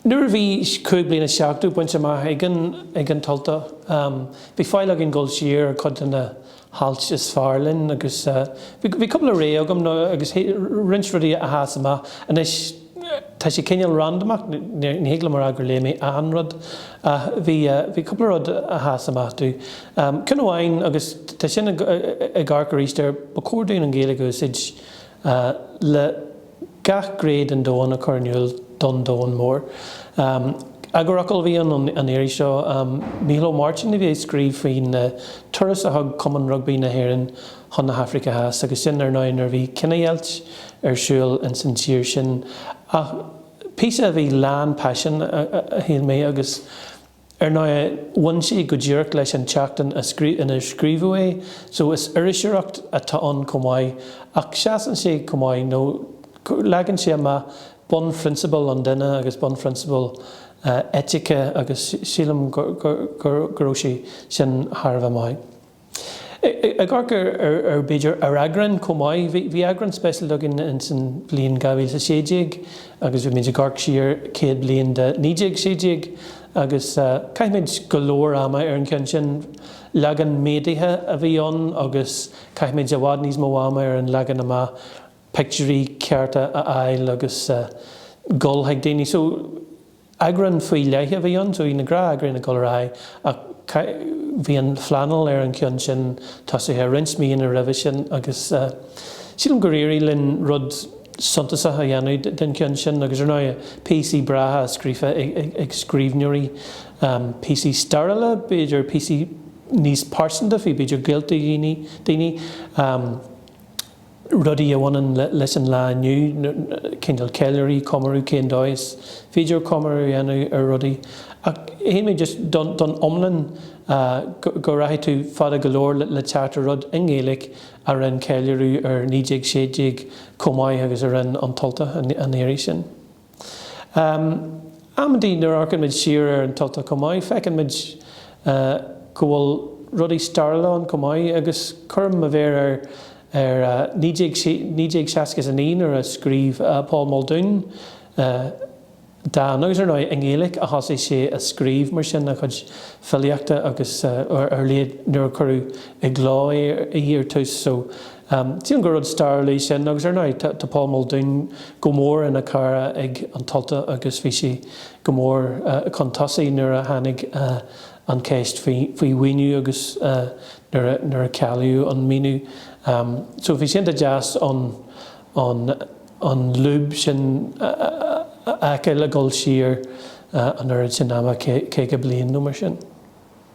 Nuair a bhí cúig bliana is seachtó bainte amach ag an tUltach, bhí faill againn dul siar ar chuid de na hailt is fearr linn agus bhí cúpla rogha agam agus roinnt rudaí a sheas amach. Anois. Tá sé cineál randamach, ní thig liom a rá gur léigh mé achan rud ach bhí cúpla rud a sheas amach domh. Ceann amháin, agus tá sin ag amharc aríst air, ba chóir dúinn an Ghaeilge a úsáid le gach gné den domhan a chur in iúl don domhan mór. Eagarfhocal a bhí ann an iarraidh seo, Mícheál Ó Máirtín a bhí ag scríobh faoin turas a thug Cumann Rugbaí na hÉireann, chun na hAifrice Theas, agus sin, ar ndóigh, nuair a bhí cinedheighilt ar siúl ins an tír sin. Ach píosa a bhí lán paisin, a shíl mé, agus ar ndóigh, bhain sé go díreach leis an tseachtain inar scríobhadh é, so is iriseoireacht atá ann chomh maith, ach seasann sé chomh maith, nó leagann sé amach bunphrionsabail an duine agus bunphrionsabail eitice, agus sílim go raibh sé sin thar a bheith maith. Ag amharc ar, b'fhéidir, ar eagráin chomh maith, bhí eagrán speisialta againn ins an bhliain 2016 agus bhí muid ag amharc siar céad bliain de 1916 agus chaith muid go leor ama ar an cheann sin. Leagan méadaithe a bhí ann agus chaith muid i bhfad níos mó ama ar an leagan amach, pictiúirí cearta a fháil agus dul chuig daoine. Eagrán faoi leith a bhí ann, so bhí na gnátheagráin ag dul ar aghaidh ach bhí an phleanáil ar an cheann sin tosaithe roinnt míonna roimhe sin agus sílim gur éirigh linn rud suntasach a dhéanamh den cheann sin agus ar ndóigh píosaí breátha scríofa ag scríbhneoirí, píosaí stairiúla, b'fhéidir píosaí níos pearsanta faoi b'fhéidir gaolta daoine. rudaí a bhaineann leis an lá inniu, cineál ceiliúradh, comóradh, cén dóigh is féidir comóradh a dhéanamh ar rudaí. Ach shíl mé just don iomlán, go rachaidh tú fada go leor le teacht ar rud i nGaeilge a rinne ceiliúradh ar 1916 chomh maith agus a rinne An tUltach an iarraidh sin. Amantaí nuair a amharcann muid siar ar an tUltach chomh maith, feiceann muid go bhfuil rudaí stairiúla ann chomh maith agus cuirim mo mhéar ar 1969 nuair a scríobh Paul Muldoon dán, agus ar ndóigh i nGaeilge a thosaigh sé a scríobh mar sin a chuid filíochta agus ar a laghad nuair a cuireadh i gcló í ar tús. Tíonn gur rud stairiúil é sin agus, ar ndóigh, tá Paul Muldoon go mór ina chara ag An tUltach agus bhí sé go mór chun tosaigh nuair a tháinig an cheist faoi mhaoiniú agus nuair a cealaíodh an maoiniú. So bhí sé iontach deas an lúb sin a fheiceáil ag dul siar an oiread sin ama, 50 bliain nó mar sin.